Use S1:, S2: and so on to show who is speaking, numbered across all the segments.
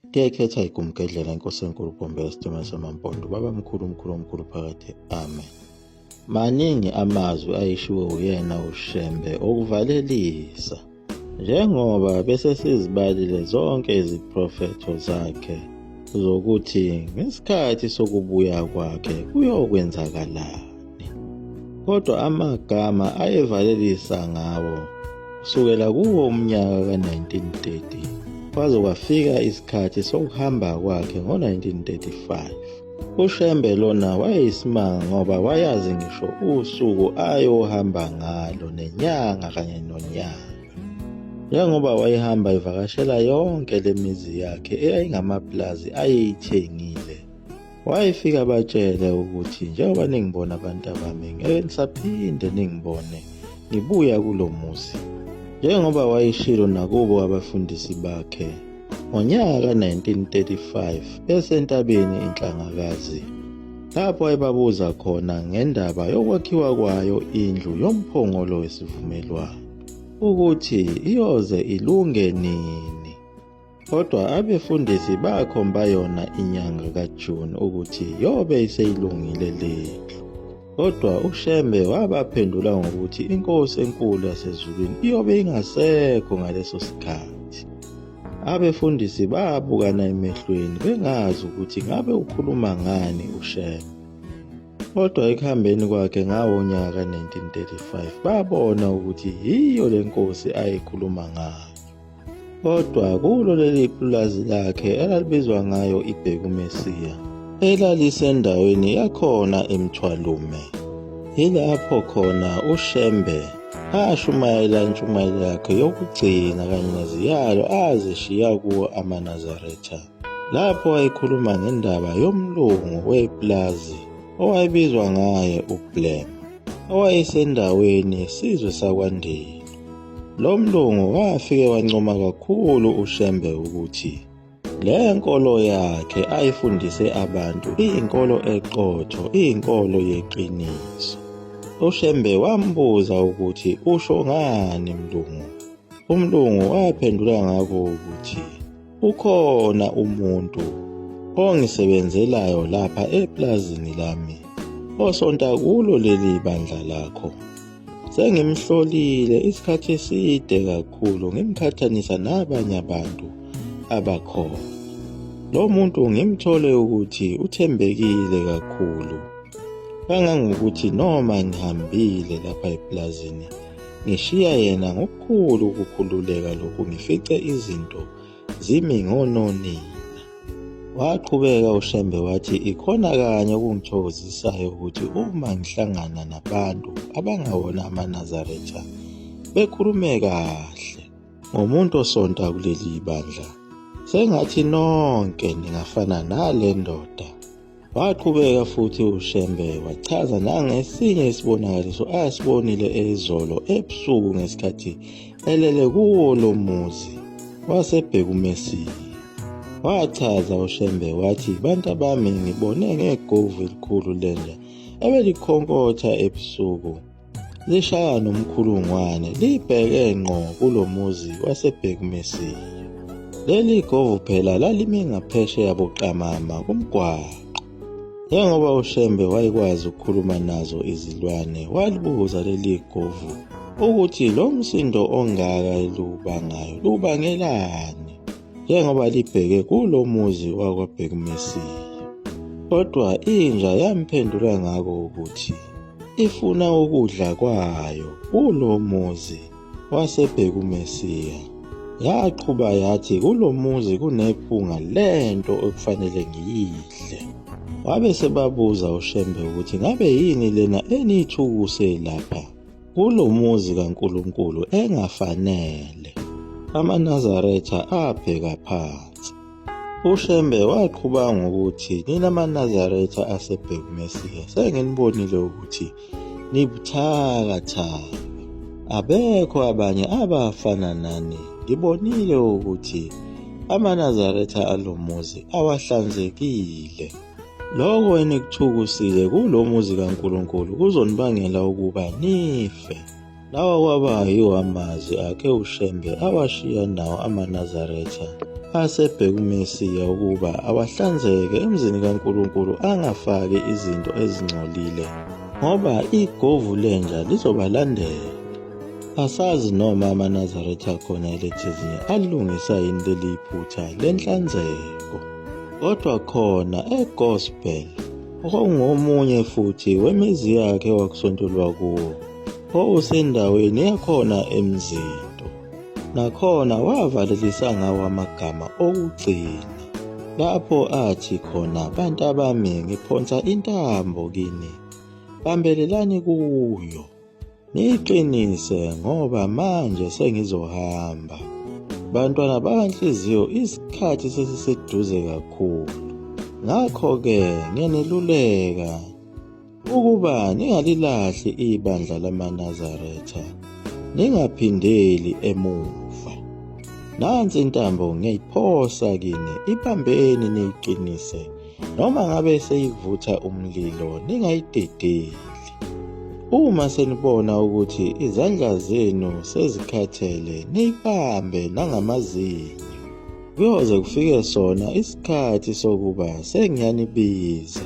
S1: Ndiyayikhetha igumgedlela inkosi enkulu gombe esitimela samampondo baba mkhulu umkhulu omkhulu phakathi amen maningi amazwi ayishiwo uyena ushembe okuvalelisa njengoba bese sizibalile zonke iziprofetho zakhe zokuthi ngesikhathi sokubuya kwakhe kuyokwenzakalani kodwa amagama ayevalelisa ngawo kusukela kuwo umnyaka ka-1930 kwaze kwafika isikhathi sokuhamba kwakhe ngo-1935 ushembe lona wayeyisimanga ngoba wayazi ngisho usuku ayohamba ngalo nenyanga kanye nonyaka njengoba wayehamba evakashela yonke le mizi yakhe eyayingamapulazi ayeyithengile wayefika batshele ukuthi njengoba ningibona abantu abami ngeke ngisaphinde ningibone ngibuya kulo muzi njengoba wayeshilo nakubo abafundisi bakhe ngonyaka ka-1935 besentabeni inhlangakazi lapho ayebabuza khona ngendaba yokwakhiwa kwayo indlu yomphongolo wesivumelwano ukuthi iyoze ilunge nini Kodwa abefundisi bakhomba yona inyanga kaJune ukuthi yobe iseyilungile lendlu. Kodwa uShembe wabaphendula ngokuthi inkosi enkulu yasezulwini iyobe ingasekho ngaleso sikhathi. Abefundisi babukana emehlweni bengazi ukuthi ngabe ukhuluma ngani uShembe. Kodwa ekuhambeni kwakhe ngawo nyaka 1935 babona ukuthi yiyo lenkosi ayekhuluma ngayo. Kodwa kulo leli pulazi lakhe elalibizwa ngayo iBhekumesiya, elalisendaweni yakhona eMthwalume, yilapho khona uShembe ashumayela intshumayelo yakhe yokugcina kanye neziyalo azishiya kuwo amaNazaretha. lapho wayekhuluma ngendaba yomlungu weplazi owayebizwa ngaye uBlem owayesendaweni yesizwe sakwaNdiya. Lo mlungu wafike wancoma kakhulu uShembe ukuthi le nkolo yakhe ayifundise abantu iyinkolo eqotho, iyinkolo yeqiniso. UShembe wambuza ukuthi usho ngani mlungu. Umlungu waphendula ngako ukuthi Ukhona umuntu ongisebenzelayo lapha eplazini lami osonta kulo leli bandla lakho. Sengimhlolile isikhathi eside kakhulu ngimqhathanisa nabanye abantu abakhona. Lo muntu ngimthole ukuthi uthembekile kakhulu kangangokuthi noma ngihambile lapha eplazini Ngishiya yena ngokukhulu ukukhululeka lokhu ngifice izinto zimi ngononina. Waqhubeka uShembe wathi ikhona kanye okungithokozisayo ukuthi uma ngihlangana nabantu abangawona amaNazaretha bekhulume kahle ngomuntu osonta kuleli bandla sengathi nonke ningafana nale ndoda Waqhubeka futhi uShembe wachaza nangesinye isibonakaliso asibonile ezolo ebusuku ngesikhathi elele kuwo lo muzi wasebheka uMessie. Wachaza uShembe wathi bantu abami ngibone ngegovu elikhulu lenja ebelikhonkontha ebusuku lishaya nomkhulungwane libheke ngqo kulo muzi wasebhekmesiya leli govu phela lalime ngaphesheya buqamama kumgwaqo njengoba ushembe wayekwazi ukukhuluma nazo izilwane walibuza leli govu ukuthi lo msindo ongaka lubangayo lubangelani njengoba libheke kulo muzi wakwabhekmesiya kodwa inja yamphendula ngako ukuthi ifuna ukudla kwayo kulo muzi wasebhekumesiya yaqhuba yathi kulo muzi kunephunga lento okufanele ngiyidle wabe sebabuza ushembe ukuthi ngabe yini lena eniyithukuse lapha kulo muzi kaNkulunkulu engafanele. AmaNazaretha abheka phansi. UShembe waqhuba ngokuthi nina maNazaretha aseBhekmesiya senginibonile ukuthi nibuthakathaka abekho abanye abafana nani ngibonile ukuthi amaNazaretha alomuzi awahlanzekile lokho enikuthukusile kulomuzi kaNkulunkulu kuzonibangela ukuba nife Lawa kwaba yiwo amazwi akhe uShembe awashiya nawo amaNazaretha asebheka uMesiya ukuba awahlanzeke emzini kaNkulunkulu angafaki izinto ezingcolile ngoba igovu lenja lizobalandela. Asazi noma amaNazaretha akhona elethezini alungisa yini leli iphutha lenhlanzeko. Kodwa khona eGospel okungomunye futhi wemizi yakhe wakusontolwa kuwo. owusendaweni yakhona emzindo nakhona wavalelisa ngawo amagama okugcina lapho athi khona bantu abami ngiphonsa intambo kini bambelelani kuyo niyiqinise ngoba manje sengizohamba bantwana bakanhliziyo isikhathi sesiseduze kakhulu ngakho-ke ngiyaneluleka Ukuba ningalilahli ibandla lamaNazaretha, ningaphindeli emuva. Nansi intambo ngiyayiphosa kini, ibambeni niyiqinise, noma ngabe seyivutha umlilo, ningayidedeli. Uma senibona ukuthi izandla zenu sezikhathele, niyibambe nangamazinyo. Kuyoze kufike sona isikhathi sokuba sengiyanibiza.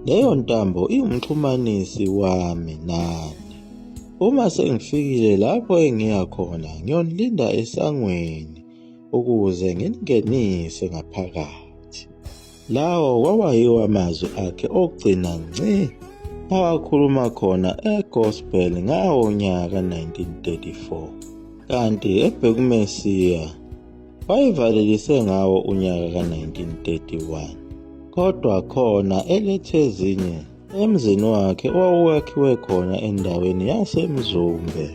S1: Leyo ntambo iwumxhumanisi wami nani. Uma sengifikile lapho engiya khona, ngiyonilinda esangweni ukuze nginingenise ngaphakathi. Lawo kwawayiwo amazwi akhe okugcina ngci awakhuluma khona eGospel ngawo nyaka 1934 kanti ebhekumesiya wayivalelise ngawo unyaka ka-1931 kodwa khona elethe ezinye emzini wakhe owawuwakhiwe khona endaweni yaseMzumbe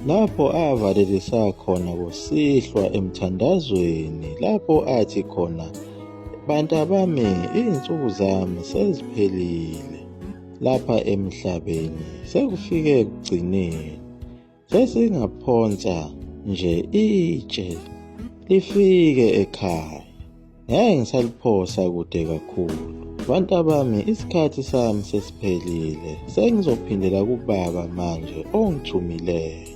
S1: lapho avalelisa khona kusihlwa emthandazweni lapho athi khona bantabami izinsuku zami seziphelile lapha emhlabeni sekufike ekugcineni sesingaphonsa nje itshe lifike ekhaya ngeke ngisaliphosa kude kakhulu bantu abami isikhathi sami sesiphelile sengizophindela kubaba manje ongithumileyo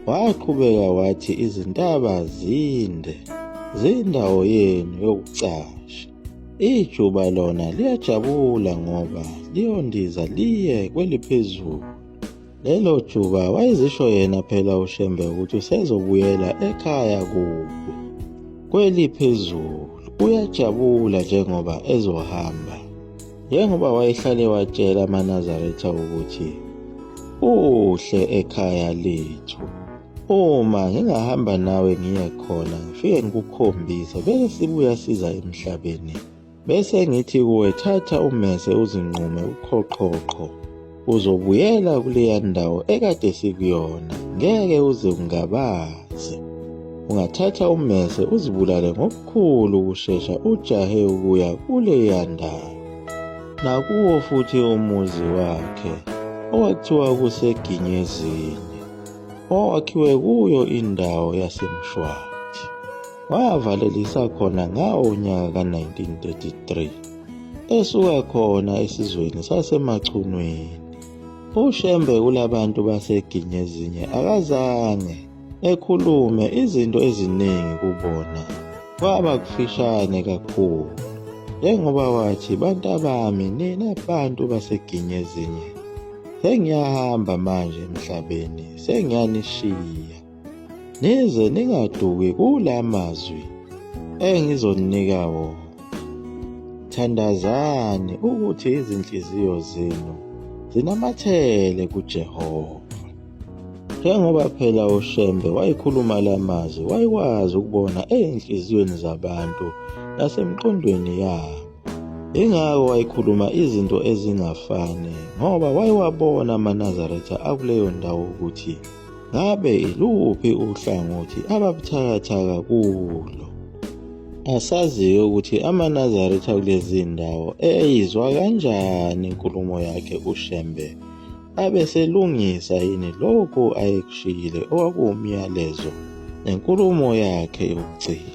S1: waqhubeka wathi izintaba zinde zindawo yenu yokucasha ijuba lona liyajabula ngoba liyondiza liye kweliphezulu Lelo juba wayezisho yena phela uShembe ukuthi usezobuyela ekhaya kubi. Kweli phezulu uyajabula njengoba ezohamba. Njengoba wayehlale watshela amaNazaretha ukuthi uhle ekhaya lethu. Uma ngingahamba nawe ngiye khona ngifike ngikukhombise bese sibuya siza emhlabeni. Bese ngithi kuwe thatha umese uzinqume uqhoqhoqho. Uzobuyela kuleya ndawo ekade sikuyona, ngeke uze ungabaze. Ungathatha umese uzibulale ngokukhulu ukushesha ujahe ukuya kuleya ndawo. Nakuwo futhi umuzi wakhe, owakuthiwa kuseGinyezini, owakhiwe kuyo indawo yaseMshwathi. Wavalelisa khona ngawo unyaka ka-1933 esuka khona esizweni sasemachunwini. UShembe kulabantu baseGinyezinye akazange ekhulume izinto eziningi kubona kwaba kufishane kakhulu njengoba wathi bantabami nina bantu baseGinyezinye sengiyahamba manje emhlabeni sengiyanishiya nize ningaduki kula mazwi engizoninika wona thandazani ukuthi izinhliziyo zenu zinamathele kuJehova njengoba phela uShembe wayikhuluma lamazwi wayikwazi ukubona ezinhliziyweni zabantu nasemqondweni yabo ingako wayikhuluma izinto ezingafani ngoba wayewabona amaNazaretha akuleyo ndawo ukuthi Ngabe luphi uhlangothi ababuthakathaka kulo? Asaziyo ukuthi amaNazaretha kulezi ndawo eyizwa kanjani inkulumo yakhe uShembe abeselungisa yini lokhu ayekushiyile okwakuwumyalezo nenkulumo yakhe yokugcina.